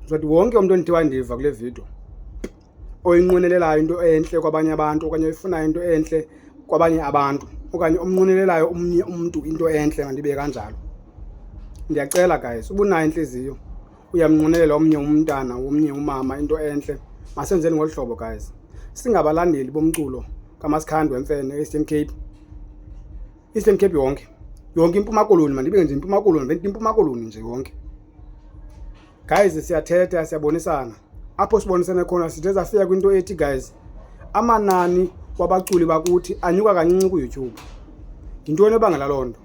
ndizothi wonke umntu ondithi wandiva kule vidiyo oyinqwenelelayo into entle kwabanye abantu okanye oyifunayo into entle kwabanye abantu okanye omnqwenelelayo omnye umntu into entle mandibe kanjalo ndiyacela guys ubunayo intliziyo uyamnqwenelela omnye umntana womnye umama into entle masenzeni ngolu hlobo guys singabalandeli bomculo kaMaskhandwe Mfene eStern Cape Eastern Cape yonke yonke impuma koloni mandibe nje impuma koloni venti impuma koloni nje yonke guys siyathetha siyabonisana apho sibonisene khona sithe safika kwinto ethi guys amanani wabaculi bakuthi anyuka kancinci kuyoutube yintoni ebangela loo nto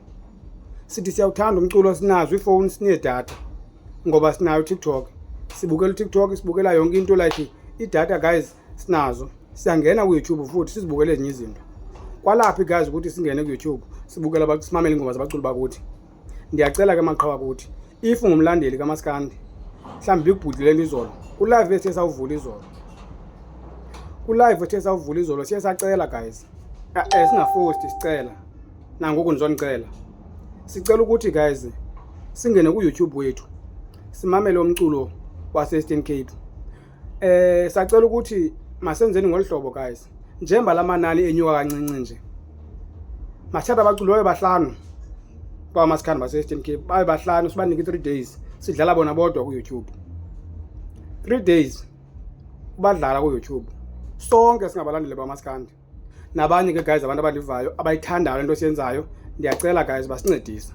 sithi siyawuthanda umculo sinazo iifowuni sineedatha ngoba sinayo utiktok sibukela utiktok sibukela yonke into like idatha guys sinazo siyangena kuyoutube futhi sizibukele ezinye izinto kwalaphi guys ukuthi singene kuyoutube sibukela simamele ingoma zabaculi bakuthi ndiyacela ke maqhawa kuthi if ngumlandeli kamaskandi mhlawumbi bikubhudlulele izolo kulive ethe sawuvula izolo kulive ethe sawuvula izolo siye sacela guys eh, eh, singafosti sicela nangoku ndizonicela sicela ukuthi guys singene kuyoutube wethu simamele umculo waseastern cape Eh sacela ukuthi masenzeni ngolu hlobo guys. Njemba lamanani enyuka kancinci nje. Mathatha abaculi babe bahlanu. Kwa masikhanda base Eastern Cape babe bahlanu sibanike 3 days sidlala bona bodwa ku YouTube. 3 days ubadlala ku YouTube. Sonke singabalandile bamaskandi. nabanye ke guys abantu abalivayo abayithandayo le nto siyenzayo ndiyacela guys basincedise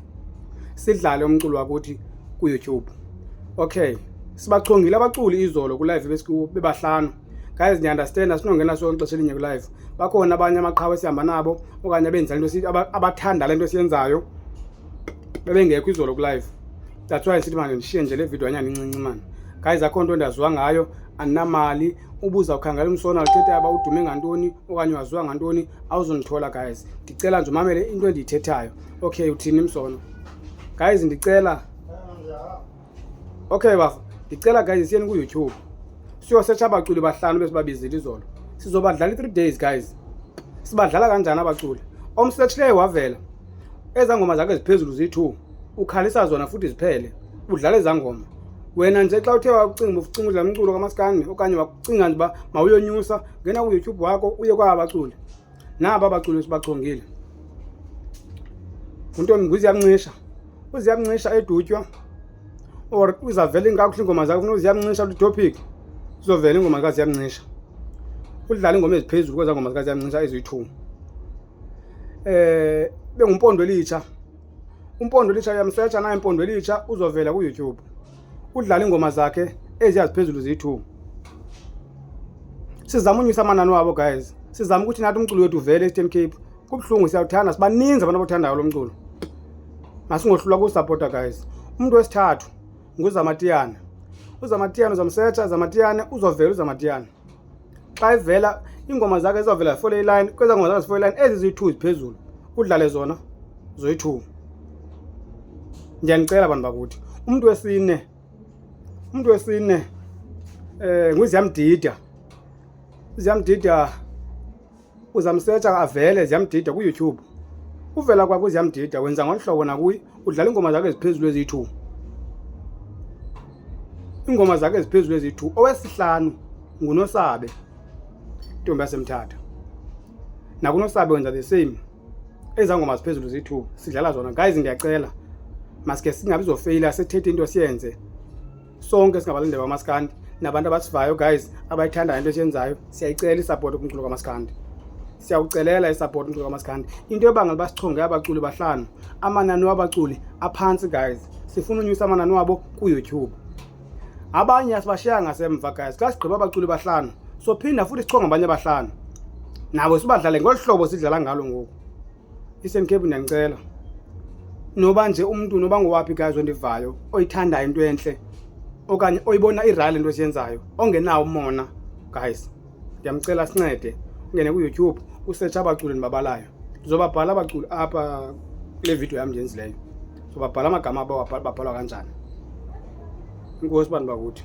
sidlale umculo wakuthi kuyoutube okay sibachongile abaculi izolo kulive besikuwo bebahlanu guys ndiunderstand asinongena so ixesha elinye kulive bakhona abanye amaqhawe esihamba nabo okanye abenza le nto abathanda le nto siyenzayo bebengekho izolo kulive that's why sithi manje ndishiye nje le video anyana incinci mani guys akho nto ndaziwa ngayo andinamali ubuza ukhangela umsona uthetha yaba udume ngantoni okanye waziwa ngantoni awuzundithola guys ndicela nje umamele into endiyithethayo okay uthini msona guys ndicela okay bafo ndicela guys siyeni kuyoutube siyosetsha abaculi bahlanu besibabizile izolo sizobadlala i-three days guys sibadlala kanjani abaculi omsetshileyo wavela Ezaa ngoma zakhe ziphezulu ziyi-two ukhalisa zona futhi ziphele udlala ezaa ngoma wena nje xa uthe wakucinga ucinga udlala umculo kamaskandi okanye wakucinga nje uba mawuyonyusa ngena kuyoutube wakho uye kwaba baculi naba baculi esibachongile untombi nguziyamncisha uziyamncisha edutywa or izavela inkakuhle iingoma zakho funa uziyamncisha litopic zizovela iingoma zikaziyamncisha udlala iingoma eziphezulu kwezaa ngoma zikaziyamncisha eziyi-two eh bengumpondo elitsha umpondo elitsha uyamsetsha naye impondo elitsha uzovela kuYouTube udlala ingoma zakhe eziyaziphezulu ziyi-2 sizama unyusa amanani wabo guys sizama ukuthi nathi umculo wethu uvele e-Eastern Cape kubuhlungu siyawuthanda sibaninzi abantu abathandayo lo mculo masingohlulwa kuwusapota guys umuntu wesithathu nguzamatiyana uzamatiyana uzamsetsha zamatiyane uzovela uzamatiyana xa evela iingoma zakhe ezizawuvela zifole ilayini kwezaa ngoma zakhe zifole ilayini ezi ziyi-two ziphezulu udlale zona zoyi-two ndiyanicela bantu bakuthi umntu wesine umntu wesine um eh, nguziyamdida uziyamdida uzamsetsha avele ziyamdida kuyoutube uvela kwakho ziyamdida wenza ngoluhlobo nakuye udlala iingoma zakho eziphezulu eziyi-two iingoma zakho eziphezulu eziyi-two owesihlanu ngunosabe intombi yasemthatha nakunosabe wenza the same ezaa ngoma ziphezulu ziyi-two sidlala zona guys ndiyacela maske singabi zofeyila sethethe into siyenze sonke singabalinde bamaskandi nabantu abasivayo guys abayithandayo into esiyenzayo siyayicela isapoti kumculo kamaskandi siyawucelela isapoti umculo kamaskandi into ebangela uba sichonge abaculi bahlanu amanani wabaculi aphantsi guys sifuna unyusa amanani wabo kuyoutube abanye asibashiya ngasemva guys xa sigqiba abaculi bahlanu sophinda futhi sichonge abanye abahlanu nabo sibadlale ngolu hlobo sidlala ngalo ngoku Eastern Cape ndiyanicela noba nje umntu noba ngowaphi guys ondivayo oyithandayo into entle okanye oyibona irayile into esiyenzayo ongenawo umona guys ndiyamcela sincede ungene kuyoutube usetsha abaculi ndibabalayo ndizobabhala abaculi apha kule vidiyo yam ndiyenzileyo ndizobabhala amagama babhalwa kanjani inkosi bantu bakuthi